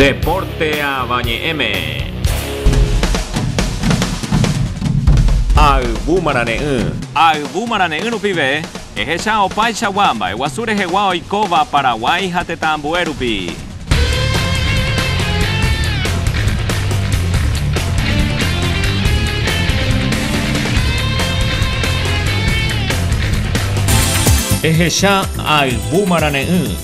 Deporte Avañe'ẽme. Ayvu marane'ỹ. Ayvu marane'ỹ rupive, ehecha opaichagua mba'eguasu rehegua oikóva Paraguái ha tetã ambue rupi. Ehecha ayvu marane'ỹ.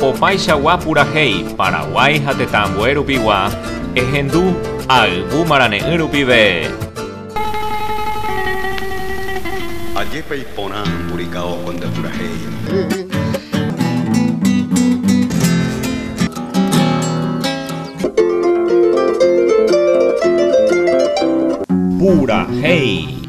Opaichagua purahéi Paraguái ha tetã ambue rupigua, ehendu ayvu marane'ỹ rupive. Ajépa iporã purikao ko nde purahéi. Purahéi.